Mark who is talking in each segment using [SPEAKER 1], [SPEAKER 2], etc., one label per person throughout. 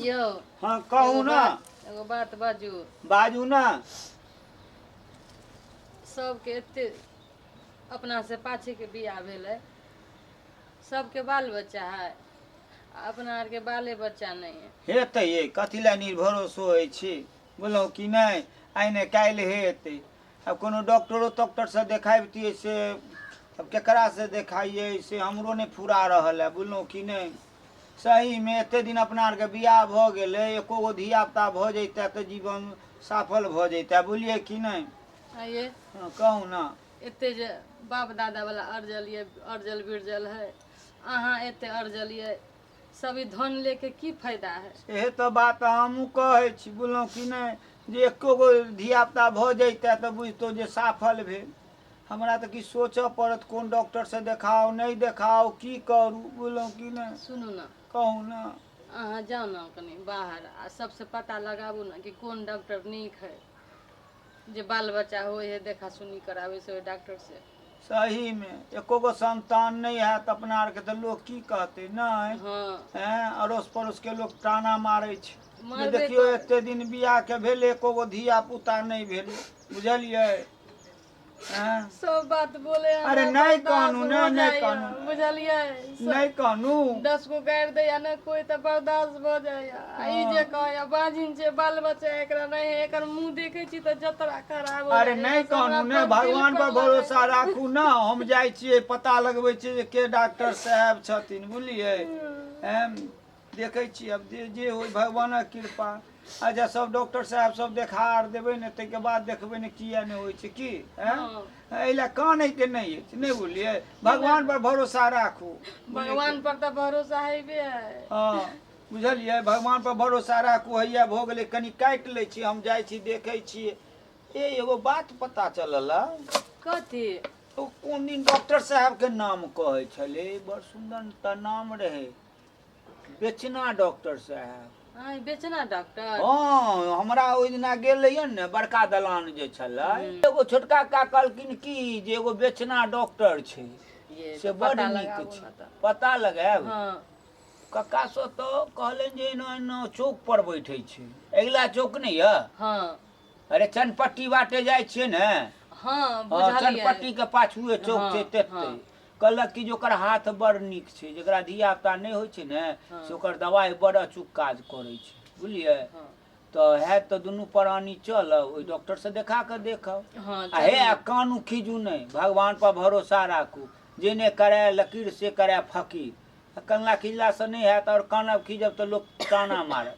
[SPEAKER 1] यौ हँ कहू एगो ने बात- एगो बात बाजू बाजू ने सबके एते अपना से पाछे के बियाह भेलै सबके बाल बच्चा है आ अपना आरके बाले बच्चा नहि है हेतै ये कथी लए निर्भरोसो होइ छी बुझलहुँ कि नहि आइ ने काल्हि हेतै आब कोनो डॉक्टरो तॉक्टरसँ देखाबितियै से आब केकरासँ देखाइयै से हमरो नहि फुरा रहल है बुझलहुँ कि नहि सहीमे एते दिन अपना आरके बियाह भऽ गेलै एको गो धियापुता भऽ जैतै तऽ जीवन सफल भऽ जैतै बुझलियै कि नहि आइए हँ, कहू ने एते जे बाप दादा वाला अरजल ये अरजल बिरजल है अहाँ एते अरजल ये सब ई धन लेके की फायदा है एहे तो बात हमहूँ कहै छी बुझलहुँ कि नहि जे एको गो धियापुता भऽ जैते तऽ बुझितौ जे सफल भेल हमरा तऽ किछु सोचऽ पड़त कोन डॉक्टरसँ देखाउ नहि देखाउ की करू बुझलहुँ कि नहि सुनू ने कहू ने अहाँ जाउ ने कनि बाहर आ सबसे पता लगाबू ने कि कोन डॉक्टर नीक है जे बाल बच्चा हो है देखा सुनी कराबै से ओहि डॉक्टर से सहीमे एको गो संतान नहि हैत अपना आरके तऽ लोक की कहतै नहि हँ एँ अड़ोस पड़ोसके लोक टाना मारै छै जे मारबे देखियौ करत। एते दिन बियाहके भेल एको गो धिया पुता नहि भेल बुझलियै एँ सब बात बोले अरे हमरा नहि बर्दाश्त कानू, हो नहि, नहि जाइया, कानू। बुझलियै नहि कहनु दस गो गारि दैया ने कोई तऽ बर्दाश्त भऽ जाइया आ ई जे कहैया बाजिन छै बाल बच्चा एकरा नहि है, एकर मुंह देखे छी तऽ जतरा खराब हो अरे जाइया। नहि बस हमरा कहनु ने अपन दिल भगवान पर लगैया। भरोसा राखू ने हम जाइ छियै पता लगबै छियै जे के डॉक्टर साहब छथिन बुझलियै एम, देखै छी आब जे जे होइ भगवानक कृपा आ जँ सब डॉक्टर साहब सब देखा आर देबै ने ताहिके बाद देखबै ने किया नहि होइ छै की एँ? हँ। एहि लए कानैके नहि अछि नहि बुझलियै भगवान पर भरोसा राखू भगवान पर तऽ भरोसा हेबे है हँ बुझलियै भगवान पर भरोसा राखू हैया भऽ गेलै कनि काटि लै छी हम जाइ छी देखै छी ए एगो बात पता चलल हँ। कथी ओ कोन दिन डॉक्टर साहब के नाम कहै छलै बड़ सुंदर तऽ नाम रहै बेचना डॉक्टर साहब आय बेचना डॉक्टर हँ हमरा ओहि दिना गेल रहियै ने बड़का दलान जे छलै एगो छोटका का कहलखिन कि जे एगो बेचना डॉक्टर छै ये से तो बड़ पता नीक लगाबू छै ना तऽ। पता लगायब हाँ कक्का सो तो कहलनि जे एना एना चौक पर बैठे छै अगिला चौक नहि यऽ हाँ अरे चनपट्टी बाटे जाइ छियै ने हाँ हाँ, बुझलियै चनपट्टी के पाछुए चौक हाँ, छै तेते हाँ। कहलक कि जे ओकर हाथ बड़ नीक छै जकरा धियापुता नहि होइ छै ने हँ। से ओकर दवाइ बड़ अचूक काज करै छै बुझलियै हँ। तऽ हैत तऽ दुनू प्राणी चलब ओहि डॉक्टरसँ देखा कऽ देखब हँ, आ हे आ कानू खीजू नहि भगवान पर भरोसा राखू जे नहि कराय लकीर से कराय फकीर आ कनला खिजलासँ नहि हैत आओर कानब खीजब तऽ लोक ताना मारत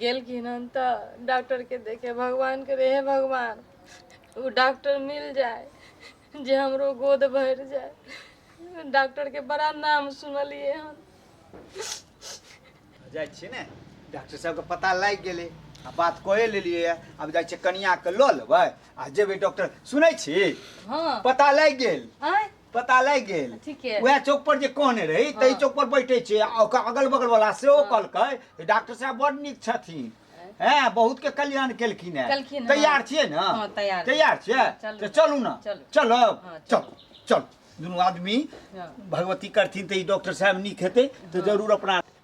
[SPEAKER 1] गेलखिन हन तऽ डॉक्टर के देखे भगवान के रहे भगवान ओ डॉक्टर मिल जाय जे हमरो गोद भरि जाय डॉक्टर के बड़ा नाम सुनलिए हन जाइ छियै ने डॉक्टर साहबके पता लागि गेलै आ बात कहे लेलियै यऽ। आब जाइ छियै कनियाके लऽ लेबै आ जेबै डॉक्टर सुनै छी हाँ पता लागि गेल आँय पता लागि गेल ठीके वएह चौक पर जे कहने रही ताहि हाँ। चौक पर बैठे छै आ ओकर अगल बगल वाला सेहो कहलकै जे डॉक्टर साहब बड़ नीक छथिन हैं बहुत के कल्याण केलखिन है केलखिन, हाँ। तैयार छियै ने हाँ, तैयार छी। तैयार छियै चलू। तऽ चलू ने चलू। चलब हाँ, चलू चलू दुनू आदमी हाँ। भगवती करथिन तऽ ई डॉक्टर साहब नीक हेतै तऽ जरूर अपना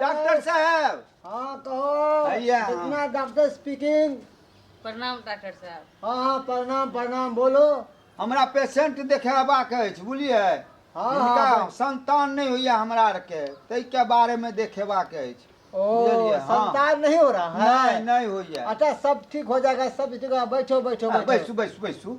[SPEAKER 1] डॉक्टर साहब हाँ कहो भैया। इतना डॉक्टर स्पीकिंग प्रणाम डॉक्टर साहब हाँ हाँ प्रणाम प्रणाम बोलो हमरा पेशेंट देखेबाक अछि बुझलिए हाँ, हिनका हाँ। संतान नहि होइया हमरा आरके ताहिके बारेमे देखेबाक अछि ओ बुझलियै, हाँ। संतान नहीं हो रहा नहि है नहि होइया अच्छा सब ठीक हो जाएगा सब ठीक होगा बैठो बैठो हाँ, बैठो बैसू बैसू बैसू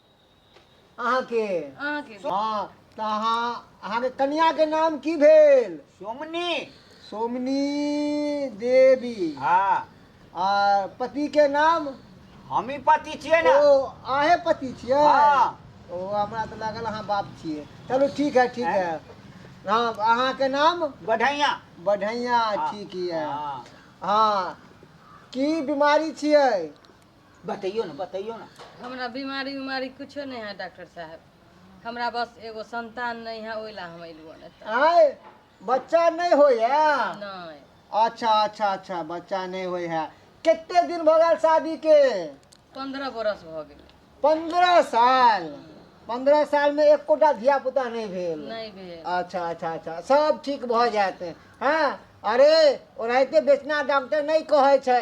[SPEAKER 1] अहाँके अहाँके हँ तऽ अहाँ अहाँके कन्याके नाम की भेल सोमनी सोमनी देवी हाँ आ पतिके नाम हम ही पति छियै ने ओ अहे पति छियै हाँ। ओ हमरा तऽ लागल अहाँ बाप छियै चलू ठीक है ठीक है हँ अहाँके नाम बढ़ैया बढ़ैया ठीक यऽ हाँ। हँ की बीमारी छियै बतैयो ना बतैयो ना हमरा बीमारी उमारी कुछो नहीं है डॉक्टर साहब हमरा बस एगो संतान नहीं है ओइला हम अइलुआ ने त आय बच्चा नहीं होय है नहीं अच्छा अच्छा अच्छा बच्चा नहीं होय है कितने दिन भऽ गेल शादी के पंद्रह बरस भ गेल पंद्रह साल पंद्रह साल में एकोटा धिया पुता नहीं भेल नहीं भेल अच्छा अच्छा अच्छा सब ठीक भऽ जायत हँ अरे ओनाहिते बेचना डॉक्टर नहि कहै छै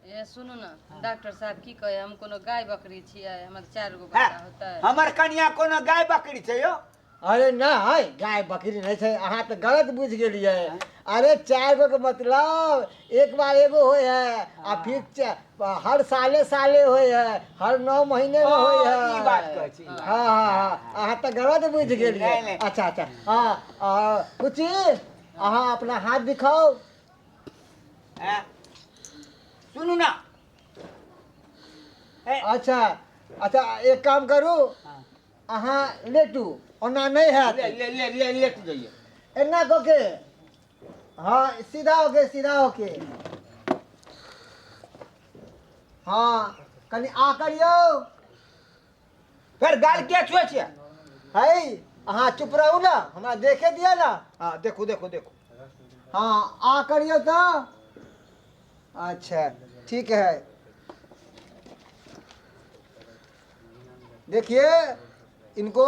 [SPEAKER 1] ए सुनू ना डॉक्टर साहब की कहे हम कोनो गाय बकरी छियै हमर चार गो हैं? बच्चा होतै हमर कनिया कोनो गाय बकरी छै यो अरे ना है गाय बकरी नहीं छै अहाँ तो गलत बुझ गेलिए अरे चार गो के मतलब एक बार एगो होय है आ फिर च- हर साले साले होय है हर नौ महीने में होय ओ, है ई बात कहै छी। हाँ हाँ हाँ अहाँ तो गलत बुझ नहीं, गेलिए नहीं। अच्छा अच्छा हाँ आ, कुची अहाँ अपना हाथ दिखाओ हैं? सुनू ना ए, अच्छा अच्छा एक काम करू हाँ। अहाँ लेटू ओना नहि ले हैत ले ले ले ले तू जाइए एना कऽ के हँ सीधा होके सीधा होके हँ कनि आ करियौ फेर गाल किया छुए छियै है अहाँ चुप रहू ने हमरा देखे दिअ ने हँ देखू देखू देखू हँ आ करियौ तऽ अच्छा ठीक है देखिए इनको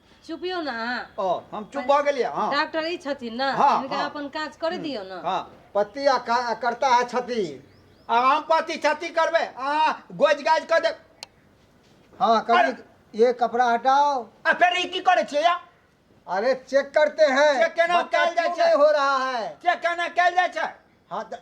[SPEAKER 1] चुपियो ना ओ हम चुप भऽ गेलियै हँ डॉक्टर ई छथिन ना हाँ, इनका हाँ। अपन काज करे दियो ना हँ पति आ का- आ करता है क्षति आ हम पति क्षति करबै अहाँ गोज गाज कऽ देब हाँ अरे। कभी ये कपड़ा हटाओ आ फेर ई की करै छियै या अरे चेक करते हैं चेक केना बच्चा कयल जाइ क्यों छै? नहीं हो रहा है चेक केना कयल जाइ छै हाँ त-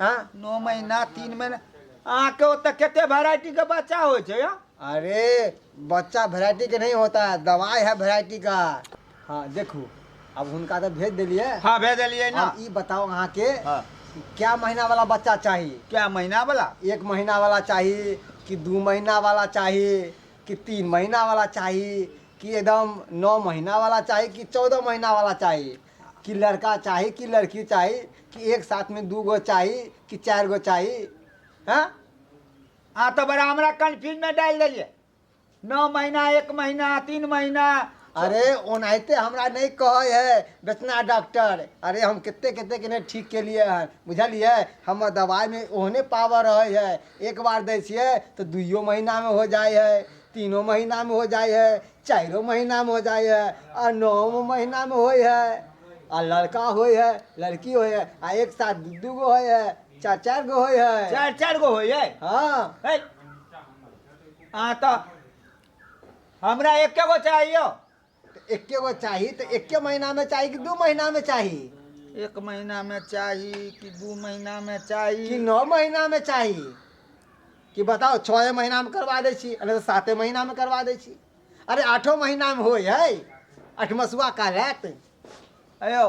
[SPEAKER 1] हाँ नौ महीना तीन महीना अहाँ के ओतऽ केते वैरायटी के बच्चा होय छै या अरे बच्चा वैरायटी के नहीं होता है दवाई है वैरायटी का हाँ देखू अब हुनका तो भेज दिलिए हाँ भेजलिए ना अब ई बताओ अहाँ के हाँ कि क्या महीना वाला बच्चा चाहिए क्या महीना वाला एक महीना वाला चाहिए कि दू महीना वाला चाहिए कि तीन महीना वाला चाहिए कि एकदम नौ महीना वाला चाहिए कि चौदह महीना वाला चाहिए कि लड़का चाही कि लड़की चाही कि एक साथमे दू गो चाही कि चारि गो चाही हँ अहाँ तऽ बड़ा हमरा कन्फ्यूजमे डालि देलियै नओ महीना एक महीना तीन महीना अरे ओनाहिते हमरा नहि कहै है बेचना डॉक्टर अरे हम कते कते के नहि ठीक केलियै हन बुझलियै हमर दवाइमे ओहने पावर रहै है एक बार दै छियै तऽ दुइयो महीनामे हो जाइ है तीनो महीनामे हो जाइ है चारिओ महीनामे हो जाइ है आ नओ महीनामे होइ है आ लड़का होइ है लड़की होइ है आ एक साथ दू दू गो होइ है चारि चारि गो होइ है चारि चारि गो होइए हँ है अहाँ तऽ हमरा एके गो चाहिए तऽ एके गो चाही तऽ एके महीनामे चाही कि दू महीनामे चाही एक महीनामे चाही कि दू महीनामे कि चाही नओ महीनामे चाही कि बताउ छओए महीनामे करवा दै छी अरे साते महीनामे करवा दै छी अरे आठो महीनामे होइ हइ अठमसुआ काल आयत अयो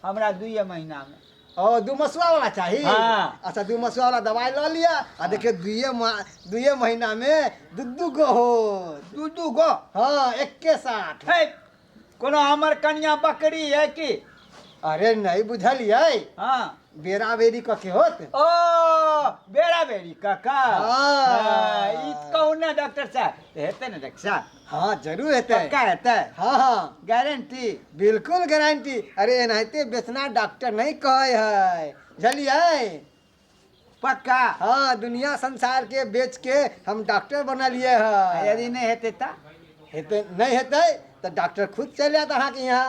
[SPEAKER 1] हमरा दुइए महीनामे ओ दू मसुआ वाला चाही हाँ। अच्छा दू मसुआ वाला दवाई लऽ लिअ आ देखियौ दुइए मा- दुइए महीना मे दू दू गो हो दू दू गो हाँ एक्के साथ है कोनो हमर कनिया बकरी है कि अरे नहीं बुझलियै हाँ बेरा बेरी कके होत ओ बेरा बेरी काका हाँ। हाँ, ई कहू ने डॉक्टर साहब हेतै ने डॉक्टर साहब हाँ जरूर हेतै पक्का हेतै हाँ हाँ गारंटी बिल्कुल गारंटी अरे एनाहिते बेचना डॉक्टर नहीं कहे है बुझलिए पक्का हाँ दुनिया संसार के बेच के हम डॉक्टर बनलिए आ है यदि नहि हेतै तऽ हेतै नहीं हेतै तो डॉक्टर खुद चले आत अहाँ के यहाँ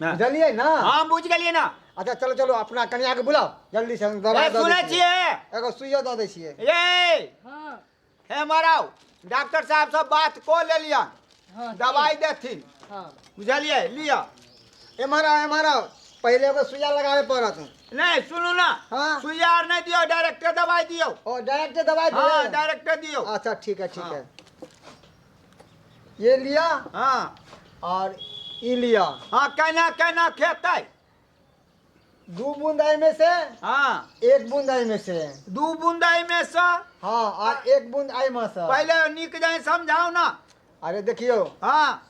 [SPEAKER 1] बुझलियै ना हम बुझ गेलियै ना अच्छा चलो चलो अपना कनिया के बुलाओ जल्दी से हम दवाई दे सुनै छियै एगो सुइयो दे दै छियै ए हां हे मराओ डॉक्टर साहब सब बात को ले लिया हां दवाई देथिन हां बुझलियै लिया ए मराओ ए मराओ पहले एगो सुइया लगावे पड़त नहीं सुनू ना हां सुइया आर नहीं दियो डायरेक्ट दवाई दियो ओ डायरेक्ट दवाई दियो हां डायरेक्ट दियो अच्छा ठीक है ठीक हाँ। है ये लिया हाँ और ई लिया हाँ कहना कहना खेतै दू बूंद एहि में से हाँ एक बूंद एहि में से दू बूंद एहिमे से हाँ और एक बूंद एहि में से पहिले नीक जाय समझाउ ने अरे देखियो हाँ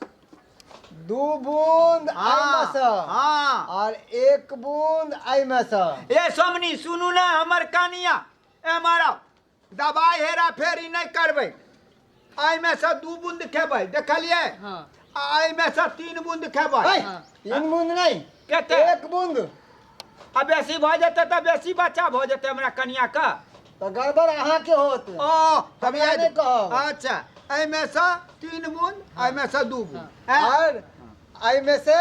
[SPEAKER 1] दू बूंद एहि में हाँ से हाँ और एक बूंद एहि में से ए सोमनी सुनू ने हमर कहानिया ए मारा दबाइ हेरा फेरी नहि करबै एहिमे से दू बूंद खेबै देखलियै हाँ आ एहिमे से तीन बूंद खेबै है, तीन बूंद नहीं केते एक बूंद आ बेसी भऽ जेतै तऽ बेसी बच्चा भऽ जेतै हमरा कनिया के तो गड़बड़ अहाँ के होत ओ हम इएह नहि कहब। अच्छा एहिमे से तीन बूंद एहिमे से दू बूंद हाँ। हैं? और अइमे से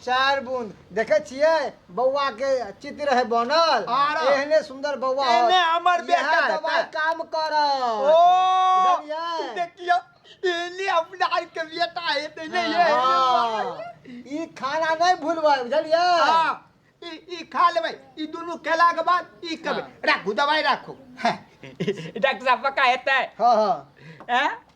[SPEAKER 1] चारि बूंद देखै छियै बौआ के चित्त रहै बनल आर एहने सुंदर बौआ होत। एहने हमर इएह बेटा हेतै। दवाई काम करत ओ बुझलियै? देखियो एने अपना आर के बेटा हेतै ने ये हाँ, ई खाना नहीं भूलबै बुझलियै हाँ, ई ई खा लेबै ई दुनू खेला के बाद ई खेबै राखू दवाई राखू हाँ। डॉक्टर साहब पक्का हेतै हाँ हाँ हैं?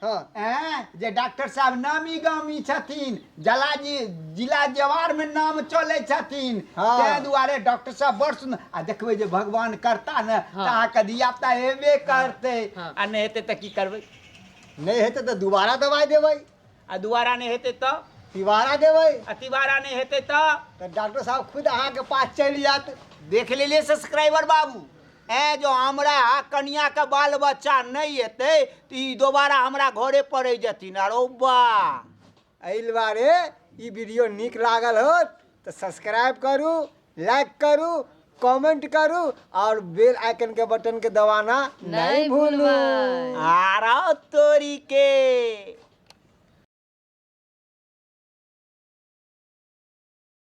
[SPEAKER 1] हँ ऐं जे डॉक्टर साहब नामी गामी छथिन जला जी जिला जवार में नाम चले छथिन हाँ। ताहि दुआरे डॉक्टर साहब बड़ सुन आ देखबै जे भगवान करता ने तऽ हाँ। अहाँके धियापुता हेबे करतै हाँ। आ नहि हेतै तऽ की करबै नहि हेतै तऽ दुबारा दवाइ देबै आ दुबारा नहि हेतै तऽ तिबारा देबै आ तिबारा नहि हेतै तऽ तऽ डॉक्टर साहब खुद अहाँके पास चलि जायत देख लेलियै सब्सक्राइबर बाबू ऐं जँ हमरा आ कनियाँके बाल बच्चा नहि एतै तऽ ई दोबारा हमरा घरे पर रहि जेथिन आरो बा एहि दुआरे ई वीडियो नीक लागल होत तऽ सब्सक्राइब करू लाइक करू कमेंट करू और बेल आइकन के बटन के दबाना नहीं नहीं भूलू भूलबै। आरा तोरी के